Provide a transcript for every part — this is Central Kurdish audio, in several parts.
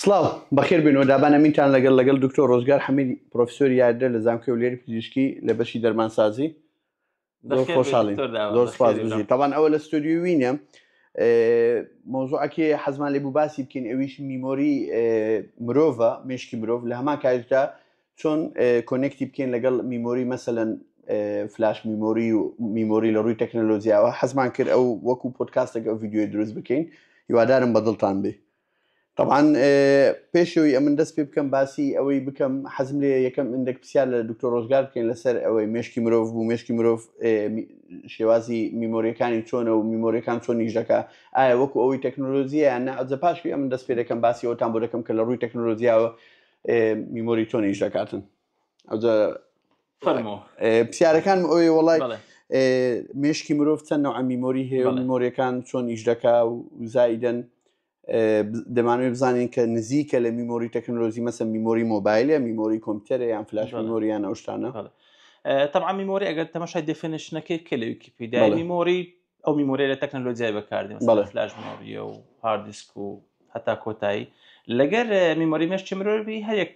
سڵاو، بەخێربێنەوە دابان ئەمینتان لەگەڵ لەگەڵ دکتۆر ڕۆزگار حەمید پرۆفیسۆری یادرە لە زانکۆی هەولێری پزیشکی لە بەشی دەرمانسازی زۆر بەخێر بێی خۆشحاڵین دکتۆر دابان، زۆر سوپاس بەخێربێی بژی بەڕێز. تاوان ئەوە لە ستۆدیۆی وینە مۆزوعەکێ حەزمان لێ بوو باسی بکەین ئەویش میمۆری مرۆڤە مێشکی مرۆڤ لە هەمان کاتدا چۆن کۆنێکتی بکەین لەگەڵ میمۆری مەسەلەن فلاش میمۆری و میمۆری لە ڕووی تەکنەلۆجیاوە حەزمان کرد ئەو وەکو پۆدکاستێک ئەو ڤیدیۆی دروست بکەین هیوادارم بەدڵتان بێ تەبعەن پێش ئەوەی ئەمن دەست پێ بکەم باسی ئەوەی بکەم حەزم لێ یەکەم ئندێک پرسیار لە دکتۆر ڕۆژگار بکەین لەسەر ئەوەی مشکی مرۆڤ بوو مشکی مرۆڤ شێوازی میمۆریەکانی چۆنە و میمۆریەکان چۆن نیش دەکە ئایا وەکو ئەوەی تەکنۆلۆژیە نەعجە پاشوی ئەمن دەست پێ دەکەم باسی ئەوتان بۆ دەکەم کە لە ڕووی تەکنۆلۆژیاوە میمۆری چۆن نیش دەکاتن ئەوجا فەرمۆ پرسیارەکان ئەوی وڵای مشکی مرۆڤ چەند نەوە میمۆری هەیە میمۆریەکان چۆن ئیش دەکا و زایدن دەمانوێت بزانین کە نزیکە لە میمۆری تەکنۆلۆژی مەسە میمۆری مۆبایلە میمۆری کۆمپیوتەر یان فلاش میمۆریان ئەوشتانە طبعا میمۆری ئەگەر تەمەشای دفنشنەکەی کە لە ویکیپیدا میمۆری ئەو میمۆرە لە تەکنەلۆجیای بەکاردێن بەڵێ فلاش مۆریە و هاردیسک و هەتا کۆتایی لەگەر میمۆری مێش چمرۆبی هەرێک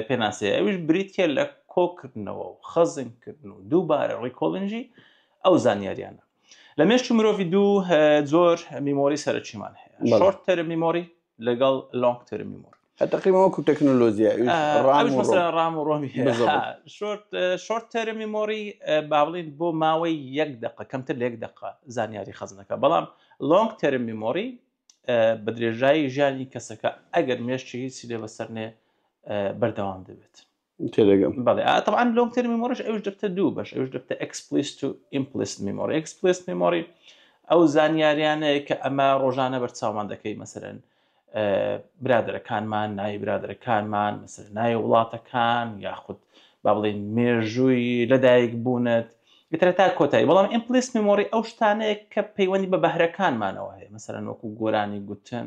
پێناسێ ئەوش بریتە لە کۆکردنەوە و خەزنکردن و دووبارە ڕیکۆلنجی ئەو زانیاریانە لە مێشتی مرۆڤی دوو زۆر میمۆری سەرچیمان هەیە شۆرت تەرم میمۆری لەگەڵ لۆنگ تەرم میمۆری تقریبا وەکو تەکنۆلۆژیا ڕام و ڕۆمی شۆرت تەرمی مۆری با بڵین بۆ ماوەی یەک دقە کەمتر لە یەک دقە زانیاری خەزنەکە بەڵام لۆنگ تەرمی مۆری بە درێژایی ژیانی کەسەکە ئەگەر مێشتی هیچ لێ بەسەرنێ بەردەوام دەبێت تێدەگەم بەڵێ ئا تەبعەن لۆنگ تێرم میمۆریش ئەوش دەبتە دوو بەش ئەوش دەبتە ئەکسپلیست و ئیمپلیست میمۆری ئەکسپلیست میمۆری ئەو زانیاریانەیە کە ئەمە ڕۆژانە بەرچاومان دەکەی مەسەرەن برادەرەکانمان ناوی برادەرەکانمان مەسەر ناوی وڵاتەکان یاخود با بڵێن مێژووی لەدایک بوونت گترە تا کۆتایی بەڵام ئیمپلیست میمۆری ئەو شتانەیە کە پەیوەندی بە بەهرەکانمانەوە هەیە مەسەرەن وەکو گۆرانی گوتن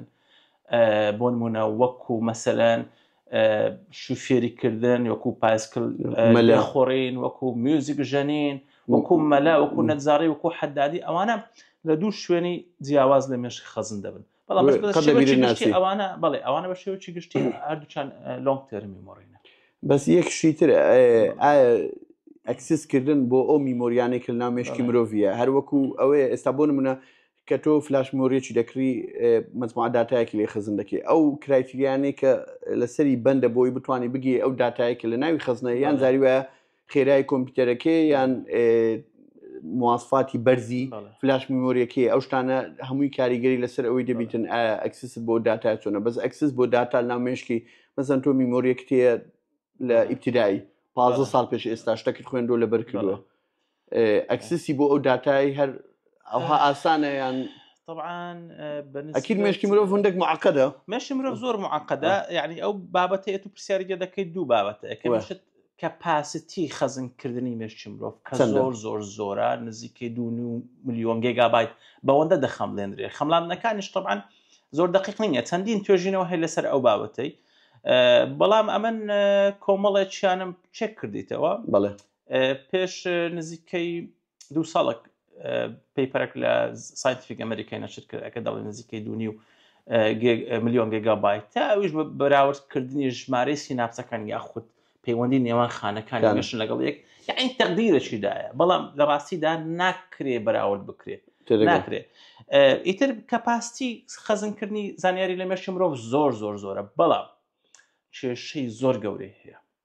بۆ نمونە وەکو مەسەرەن شوفێری کردن وەکو پایسکل مەلا خۆڕین وەکو میوزیک ژەنین وەکو مەلا وەکو نەجاری وەکو حەدادی ئەوانە لە دوو شوێنی جیاواز لە مێشک خەزن دەبن بەڵام بەس بە قەد شێوەی لەبیری گشتی ناچی. ئەوانە بەڵێ ئەوانە بە شێوەی گشتی هەردووچان لۆنگ تێرمی مۆڕینە بەس یەک شتی تر ئایا ئایا ئەکسس کردن بۆ ئەو میمۆریانەی کە لە ناو مێشکی بەڵێ. مرۆڤە هەر وەکو ئەوەیە ئێستا بۆ نمونە کە تۆ فلاش میمۆریەکی دەکڕی مجموعە داتایەکی لێ خزن دەکەی ئەو کرایتریانەی کە لەسەری بەندە بۆی بتانی بگی ئەو داتایە کە لە ناوی خزنە یان بەڵێ. زاری وایە خێرای کۆمپیوتەرەکەی یان ئێ، مواسفاتی بەرزی بەڵێ. فلاش میمۆریەکەی ئەو شتانە هەمووی کاریگەری لەسەر ئەوەی دەبیتن ئا ئەکسست بۆ داتا چۆنە بەس ئەکسس بۆ داتا ناو مێشکی مەسەن تۆ میمۆریەکت هەیە لە بەڵێ. ئیبتیدایی پازدە بەڵێ. ساڵ پێش ئێستا شتەکت خوێندوە لەبەر کردوە بەڵێ. ئەکسسی بۆ ئەو داتایی هەر ئەوها ئاسانە یان طبعاان ئەکیل مشتی مرۆڤ هەندێک معقدە مەشی مرۆڤ زۆر معقدە یعنی ئەو بابەتە ئێت و پرسیارگە دەکەیت دوو بابەتە ئەکەشت کە پاستی خەزنکردنی مێشتی مرۆڤ کە زۆر زۆر زۆرە نزیکەی دو میلیۆن گێگابیت بەوەندە دەخەملێنرێ خەملاندنەکانیش طبعاان زۆر دقیق نیە چەندین توێژینەوە هەیە لەسەر ئەو بابەتەی بەڵام ئەمن کۆمەڵێکیانم چێک کردیتەوە بەڵێ پێش نزیکەی دوو ساڵک پەیپەرێک لە ساینتیفیک ئەمریکای نەشر کرد ئەکە دەڵێ نزیکەی دوونی و میلیۆن گگابای تا ئەوش بە بەراوردکردنی ژمارەی سیناپسەکان یاخود پەیوەندی نێوان خانەکان گەشن لەگەڵ یەک یاین تەقدیرەشیدایە بەڵام لە ڕاستیدا ناکرێ بەراورد بکرێت ناکرێت ئیتر کەپاستی خەزنکردنی زانیاری لە مێشی مرۆڤ زۆر زۆر زۆرە بەڵام کێشەی زۆر گەورەی هەیە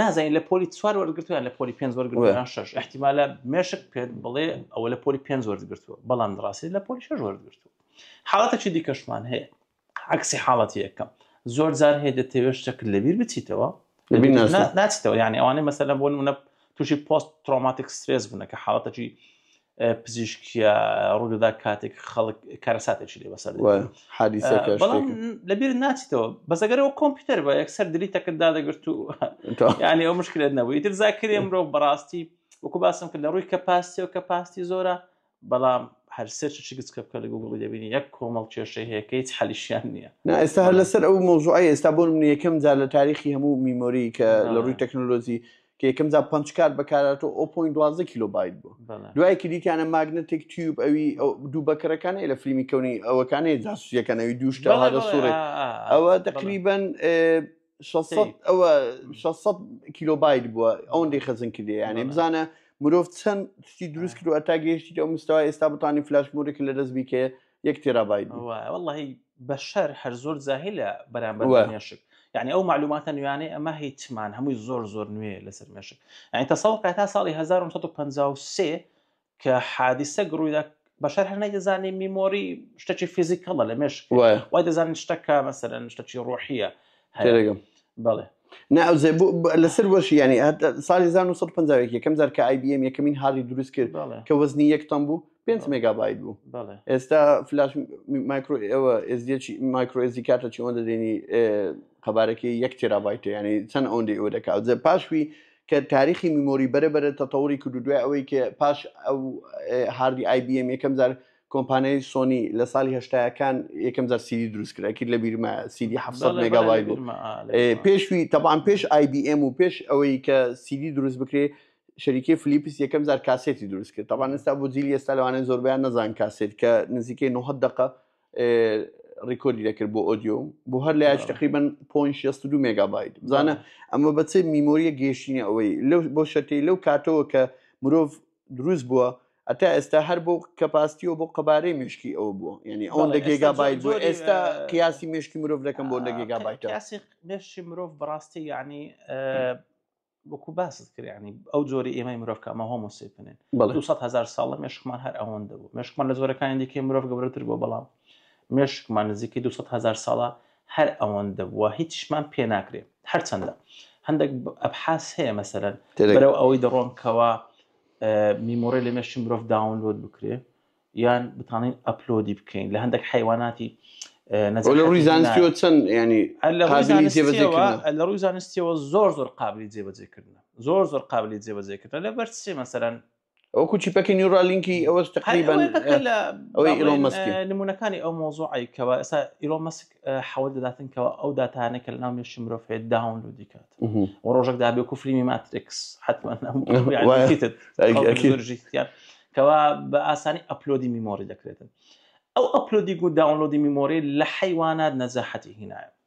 نازانین لە پۆلی چوار وەرگتویان لە پۆلی پێنج وەرگتویان شش احتیمالە مێشک پێت بڵێ ئەوە لە پۆلی پێنج وەرگتووە بەڵام ڕاستی لە پۆلی شش وەرگتووە حاڵەتەکی دیکەشمان هەیە عکسی حاڵەتی یەکەم زۆر جار هەیە دەتەوێت شتەکە لەبیر بچیتەوە ناچیتەوە یعنی ئەوانەی مەسەلە بۆ منە تووشی پۆست ترۆماتیک سترێس بوونە کە حاڵەتەکی پزیشکە ڕوودەدا کاتێک خەڵک کارەساتێکی لێ بەسەر بەڵام لەبییر ناچیتەوە بەسەگەرەوە کۆمپیوتەر بە یەکسەر دلی تەکتدا دەگرت و ینی ئەو مشکلێت نەبووی تر زاکرێ مرۆ بەڕاستی وەکو باسم کرد لە ڕووی کە پاستی و کە پاستی زۆرە بەڵام هەر سەرچی گچکە بکە لە گوگڵی دەبینی یەک کۆمەڵ کێشەی هەیەکەی حەلیشیان نییە نا ئێستا هەر لەسەر ئەو مۆزوعی ئێستا بۆ من یەکەم جار لە تاریخی هەموو میمۆری کە لە ڕووی تەکنۆلۆژی کە یەکەم جا پنج کارت بەکاراتەوە ئەو پوین دوازدە کیلو بایت بوو دوایەکی دیتیانە ماگنەتێک تیوب ئەوی دوو بەکەرەکانی لە فیلمی کەونی ئەوەکانی جاسوسیەکانەوی دووشتە هەدە سوڕێ ئەوە تقریبن ئەوە 600 کیلو بایت بووە ئەوەندەی خەزن کردی یانێ بزانە مرۆڤ چەند شتی دروست کردوە تا گەیشتی ئەو مستەوە ئێستا بتانی فلاش مورێک لە دەست بیکەێت یەک تێرابای وڵی بەشەر هەر زۆر زاهلە بەرامبەر مێشک یعنی ئەو معلوماتە نوێیانەی ئەمە هیچمان هەمووی زۆر زۆر نوێ لەسەر مێشک ئەین تەسەڵ کە تا ساڵی 1953 کە حادیسە گڕوویدا بەشەر هەر نەیدەزانانی میمۆری شتەکی فیزیکەڵە لە مێشک وای دەزانین شتەکە مەسەرەن شتەکی ڕۆحیە هەرێگەم بەڵێ ناوزێ لەسەر وەشی ینی ساڵی 1950 یەکەم جار کە IBM یەکەمین هاردی دروست کرد کە وەزنی یەک تەم بوو 5 مگابایت بوو ئێستا فلاش مایکرۆ ئەوە ئێزیەکی مایکرۆ ئێزی کاتە چی ئەوەندە دێنی قەبارەکەی یەک تێرابایتە ینی چەند ئەوەندی ئەوە دەکات جە پاشوی کە تاریخی میمۆری بەرە بەرە تەتەوری کرد دوای ئەوەی کە پاش ئەو هاردی IBM یەکەم جار کۆمپانیای سۆنی لە ساڵی هەشتایەکان یەکەم جار سیدی دروست کرد ئەکرد لە بیرمە سیدی ح مگاوای بوو پێشوی تەبان پێش آیBM و پێش ئەوەی کە سیدی دروست بکرێ شەریکی فلیپس یەکەم جار کاسێتی دروست کرد تەبان ئستا بۆ جیلی ئێستا لەوانێن زۆربیان نەزان کاسێت کە نزیکەی 90 دقە ڕیکۆری دەکرد بۆ ئۆدیۆ بۆ هەر لە یاش تقریبن پۆین 62 مگابایت بزانە ئەمە بەچێ میمۆریە گەیشتنی ئەوەی لەو بۆ شەتی لەو کاتەوە کە مرۆڤ دروست بووە ئەتا ئێستا هەر بۆ کەپاستیەوە بۆ قەبارەی مشکی ئەوە بووە یعنی ئەو لە گێگا بایت بۆ ئێستا قیاسی مشکی مرۆڤ دەکەم بۆ لە گێگا بایت مشی مرۆڤ بەڕاستی یعنی وەکو باست کرانی ئەو جۆری ئێمەی مرۆڤکەمە هۆمۆسیپنن بە 200 هزار ساڵە مشکمان هەر ئەوەندە بوو مشکمان لە زۆرەکانی دیکەی مرۆڤ گەورەتر بۆ بەڵام مشکمان نزیکەی 200 هزار ساڵە هەر ئەوەندە بووە هیچمان پێ ناکرێت هەرچەندە هەندێک ئەبحاس هەیە مەسەرەن بەرەو ئەوەی دەڕۆن کەوا میمۆڕی لە مێشی مرۆڤ داونلۆد بکرێ یان بتانین ئەپلۆدی بکەین لە هەندێک حیواناتی لە ڕووی زانستیەوە چەند ینی لە ڕووی زانستیەوە زۆر زۆر قابلی جێبەجێکردن زۆر زۆر قابلی جێبەجێکردن لە بەر سێ مەسەرەن ئەو کوچی پەکی نیورا لینکی ئەوە تقریبان ئەوەی ئیلۆن مەسک نمونونەکانی ئەو مۆزوعی کەەوە ئێستا ئیلۆن مەسک حەوە دەداتن کەەوە ئەو دااتانە کە لە ناو مێشی مرۆڤ هەیە داون لو دیکات و ڕۆژێک دابێ کو فلیمی ماترێکس حتمما کەوا بە ئاسانی ئەپلۆدی میمۆری دەکرێتن ئەو ئەپلۆدی و داونلۆدی میمۆری لە حیوانات نەزەحەتی هینایە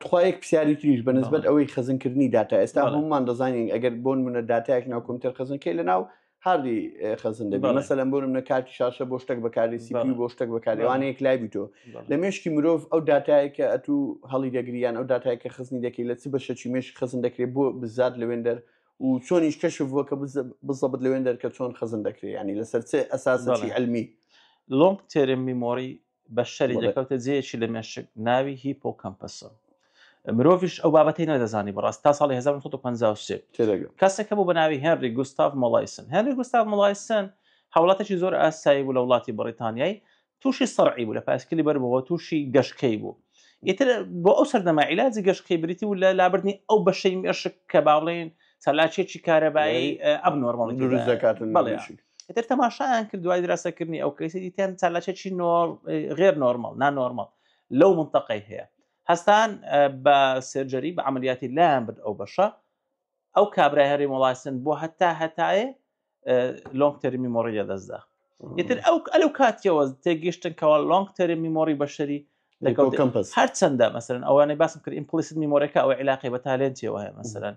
تخوا یەک پرسیاری تریش بە نسبت ئەوەی خزنکردنی داتا ئێستا هەمومان دەزانین ئەگەر بۆن منە دااتایەک ناو کۆمتەر خزنکەی لە ناو هاردی خزن دەبێت مەسەلەن بۆن منە کاتی شاشە بۆ شتێک بەکاری سیبی بۆ شتێک بەکاریوانەیەک لای بیتۆ لە مێشکی مرۆڤ ئەو دااتایەکە ئەتو هەڵی دەگریان ئەو دااتایەکە خزنی دەکەی لە چ بەشەچی مێش خزن دەکرێت بۆ بزات لەوێندەر و چۆنیش کەشف بووە کە بزەبت لەوێندەر کە چۆن خزن دەکرێت ینی لەسەر چ ئەساسەی علمی لۆنگ تێرم میمۆری بە شەری دەکەوتە جێکی لە مێشک ناوی هی پۆکەمپەسە مرۆڤش ئەو بابەتی نەدەزانی بەڕاست تا ساڵی 1950 کەسێکە بوو بە ناوی هێنری گوستاف مۆلایسن هێنری گوستاف مۆلایسن هاوڵاتێکی زۆر ئاسایی بوو لە وڵاتی بەڕیتانیایی تووشی سەرعی بوو لە پاسکلی بەرەوە تووشی گەشتکەی بوو ئیتر بۆ ئەو سەردەما عیلاجی گەشتکەی بریتی و لە لابردنی ئەو بەشەی مێشک کە باڵێن سەلاچێکی کارەبایی ئەب نۆرمەڵی دەکاتن ئیتر تەماشایان کرد دوای دراسەکردنی ئەو کەیسی دیتیان چالاکێکی غێر نۆرمال نا نۆرمال لەو منتەقەی هەیە هەستان بە سرجەری بە عملیاتی لایان برد ئەو بەشە ئەو کابرای هەرێ وڵاستن بۆ هەتا هەتایە لۆنگ تەرمی مۆڕی لە دەستدا ئیتر ئەو ئەلو کاتیەوە تێگەشتن کەەوە لۆنگ تەرم میمۆری بەشەری لەگەڵ کەمپس هەرچەندە مەسەرن ئەوانەی باسم کرد ئیمپلیسن میمۆرەکە ئەو عیلاقی بە تالێنتیەوە هەیە مەسەرن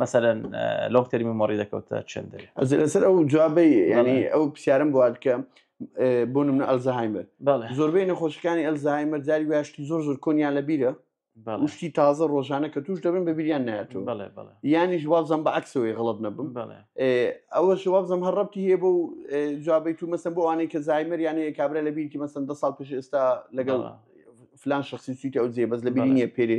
مەسەرەن لۆنگ تەرمی مۆڕی دەکەوتە چندر لەسەر ئەو جوابی ینی ئەو پرسیارم بۆ بکە بۆ منە ئەلزەهایمەر زۆربەی نەخۆشەکانی ئەلزەهایمەر جاری واشتی زۆر زۆر کۆنیان لە بیرە شتی تازە ڕۆژانە کە توش دەبن بە بیریان ناتوو ینی ژوابزم بە عکسەوەی غڵت نەبم ئەوە شوابزم هەر ڕەتی هەیە بۆ جوابی تو مەسم بۆ ئەوانەی کە زایمەر یانە کابرا لە بیرتی مەسم دە ساڵ پێش ئێستا لەگەڵ فلان شخصی سویتی ئەو جێ بەس لە بینیە پێری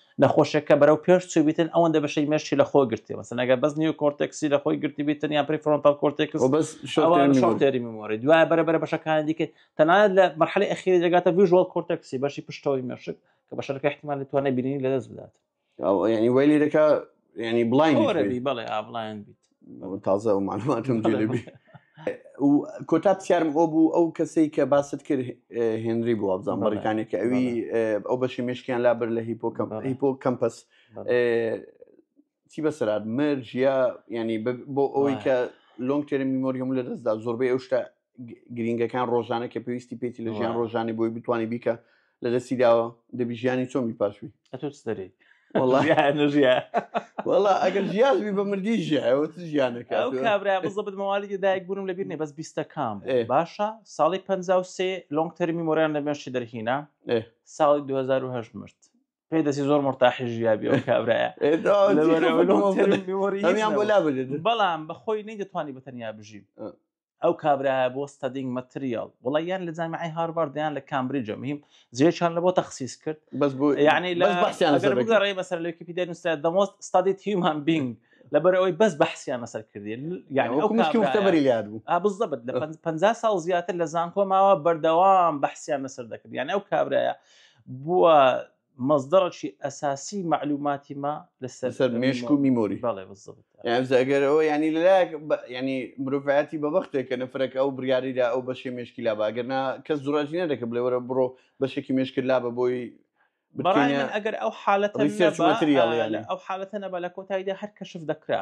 نەخۆشێکە بەرەو پێش چووبیتن ئەوەندە بەشەی مێشکی لە خۆ گرتێ مەسەن ئەگەر بەس نیو کۆرتێکسی لە خۆی گرتی بیتن یان پری فرۆنتال کۆرتێکس و بەس شۆک تێری میمۆری دوای بەرە بەرە بەشەکانی دیکە تەنانەت لە مەرحەلی ئەخیری دەگاتە ڤیژوال کۆرتێکسی بەشی پشتەوەی مێشک کە بەشەکە احتمال لە توانای بینینی لەدەست بدات ینی ویلی دەکا ینی بڵاین بڵێ ئابڵایەن بیت تازە و معلوماتم جێبی کۆتا پرسیارم ئەو بوو ئەو کەسەی کە باست کرد هێنری بوو ئەبزان بەڕکانی کە ئەوی ئەو بەشی مشکیان لابر لە هیپۆ هیپۆ کەمپەس چی بەسرات مەرجە ینی بۆ ئەوەی کە لۆنگ تێرە میمۆریەم لە دەستدا زۆربەی ئەو شتە گرنگەکان ڕۆژانە کە پێویستی پێێتی لە ژیان ڕۆژانی بۆی بتوانانی بیکە لە دەستی داوە دەبی ژیانی چۆمی پاشوی دەری وڵا ئەگەر ژیازبی بە مردی ژیانەکە کابرا بزەبت مەوالی دایک بوونم لەبییر نێ بەس بیستەکان باشە ساڵی پ سێ لۆنگ تەرمی مۆران لە مێشتی دەرهینا ساڵی 2010 مرد پێ دەسی زۆر مرتاحی ژیابی ئەو کابراە بەڵام بەخۆی نەی دەتوانانی بەتەنیا بژیم ئەو کابراە بۆ ستدینگ مەتریال وڵی یان لە جامیعی هاربار دیان لە کامبریجە میم زیێچان لە بۆ تەخصیس کرد بەس بۆ یعنی لە بەسیانگەڕی بەسەر لەکی پیدا نووسرا دەمۆست ستادی تیمان بینگ لەبەر ئەوەی بەس بەحسیان لەسەر کردی یعنی وەکومشتەبەری لات بوو بزەبت لە پ ساڵ زیاتر لە زانکۆ ماوە بەردەوام بەحسیان لەسەر دەکرد یان ئەو کابراە بووە مەزدەڕەکی ئەساسی مەعلوماتی ما لەسەر سەر مێشک و میمۆری بەڵێ بالضبط یانزە ئەگەر ئەوە ینی لەلایەک بە- ینی مرۆڤایەتی بە بەختێک کە نەفرەکە ئەو بڕیاریدا ئەو بەشێ مێشکی لا باگەرنا کەس زوراژی نەدەکە بڵێ وەرە بڕۆ بەشێکی مێشکت لا بە بۆی بەڕای بتکەنە من ئەگەر ئەو حالەتە research نەبا material آه، یعنی. لە ئەو حالەتە نەبا لە کۆتاییدا هەر کەشف دەکرا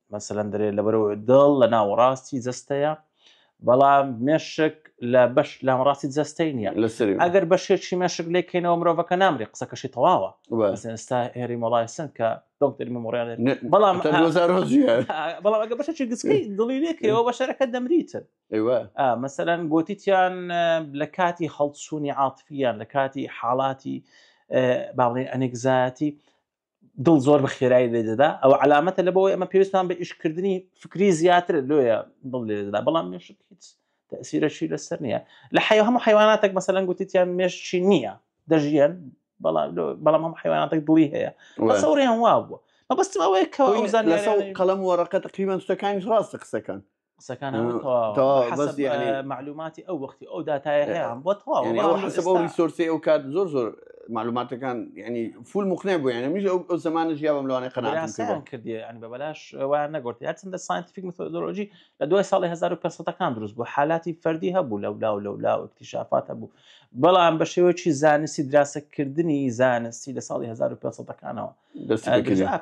مەسەلەن دەرێت لە بەرەوە دڵ لە ناوەڕاستی جەستەیە بەڵام مێشک لە بەش لامەڕاستی جەستەی نییە لەسەری ئەگەر بەشێکی مێشک لێکەینەوە مرۆڤەکە نامری قسەکەشی تەواوە ئێستا هێری مۆڵایسن کە دکتەری مەمۆڕیان بەڵام بەڵام ئەگە بەشێکی گسکی دڵی لێکەوە بەشەرەکە دەمریتن مەسەرەن گوتیان لە کاتی هەڵچوونی عاتفیان لە کاتی حاڵاتی باڵێ ئەنێکزایەتی دڵ زۆر بە خێرایی لێ دەدا ئەوە علامەتە لە بەوەی ئەمە پێویستان بە ئیشکردنی فکری زیاتر لۆیە دڵ لێ دەدا بەڵام مێش هیچ تەسیرەشی لەسەر نییە لە حی هەموو حیواناتێک مەسەلەن گوتیان مێشی نییە دەژیان بەڵام هەم حیواناتێک دڵی هەیە سەوریان وا بووە مەبەستم ئەوەیە کەوەزان لەسەر قەڵم وەڕقە تقریبان شتەکانی ڕاستە قسەکان قسەکان معلوماتی ئەو وەختی ئەو دااتایەیان بۆ تەواوسۆرسی ئەو کات زۆر زۆر معلوماتەکان ینی فول مخنێ بوو یانە میش ئەو زمانە ژیاوەم لەوانە قەناان کردی ئەنی بە بەلاش وایان نەگرتی هەرچنددە ساینتیفیک متۆلۆژی لە دوای ساڵی 1970ەکان دروست بوو حالاتی فەردی هەبوو لە ولا و لە ولا و اکتیشافات هەبوو بەڵام بە شێوەیەکی زانستی دراسەکردنی زانستی لە ساڵی 1970ەکانەوە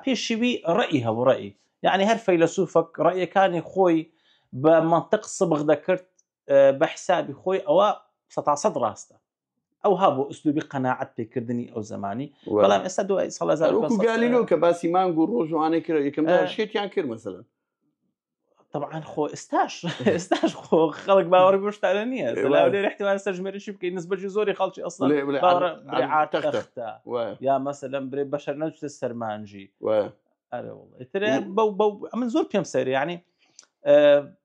پێشوی ڕئی هەبوو ڕئی یەعنی هەر فەیلەسوفەک ڕەئیەکانی خۆی بە مەنتق سبغ دەکرد بە حسابی خۆی ئەوە سە تا سەد ڕاستە ئەو ها بۆ ئوسلوبی قەناعەت پێکردنی ئەو زمانی بەڵام ئێستا دوای سەڵ گالیلۆ کە باسی مانگ و ڕۆژوانەی کرد یەکەم شێتیان کرد مەسەن طبعا خۆ ئێستاش ئێستاش خۆ خەڵک باوەڕ گۆشتانە نییە لێ احتمال سەرژمێریشی بکەین نسبەجی زۆری خەڵکی ئەسڵ ئارتەختە یا مەسە لەم برێ بەشەر نەچێت سەرمانجی من زۆر پێم سەری ینی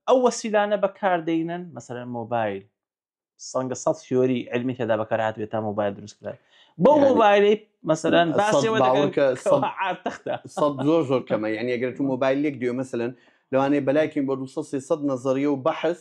ئەو وەسیلانە بەکاردەینن مەسەر مۆبایل سەنگە سە سیۆری علمی تێدا بەکارات بێت تا مۆبایل دروست کرد بۆ مۆبایلی مەسەرەن زۆر زۆر کەمە یعنی ئەگەر تو مۆبایلێک دوێ مەسەن لەوانەیە بەلایکن بۆ 200 نەزەریە و بەحس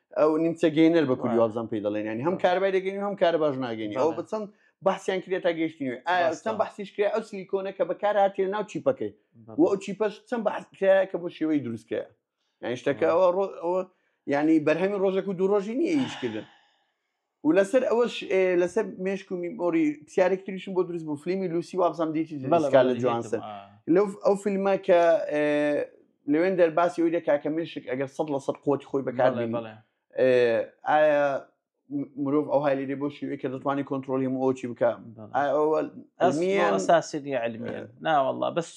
ئەو نیمچە گەینەر بە کوردی وابزان پێی دەڵێن ینی هەم کاربای دەگەین هەم کار باش ناگەین ئەو بچەند بەحسیان کرێ تا گەشتنی ئاستان بەحسیش کرێ ئەو سلیکۆنە کە بەکار هااتێ ناو چیپەکەی و ئەو چیپەش چەند بەحسکە کە بۆ شێوەی دروستکەیە یانیشتەکەەوە ڕۆ ئەوە ینی بەرهەمی ڕۆژێک و دوو ڕۆژی نیە ئیشکردن و لەسەر ئەوەش لەسەر مێشک و میمۆری پرسیارێک تریشم بۆ دروست بوو فلیمی لوسی وابزانام دیتی بەڵکار لە جوانسن لەو ئەو فیلمە کە لەوێن دەرباسی ئەوی دەکا کە مێشک ئەگەر سەد لە سەد قوتی خۆی بەکار ئایا مرۆڤ ئەو هالی لێ بۆ شوێ کە دەتوانانی کۆنتترۆلی هەموو ئەوچی بکە ئەوە ئەساسی علمیە ناوەله بەس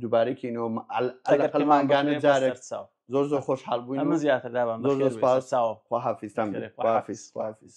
دووبارەی کەینەوە ئەلقەلمانگانە جارێک چاو زۆر زۆر خۆش حال بووین ئەمە زیاتر دابان زۆر زۆر سپاس چاوە خواحافیستان خواحافیز خواحافیز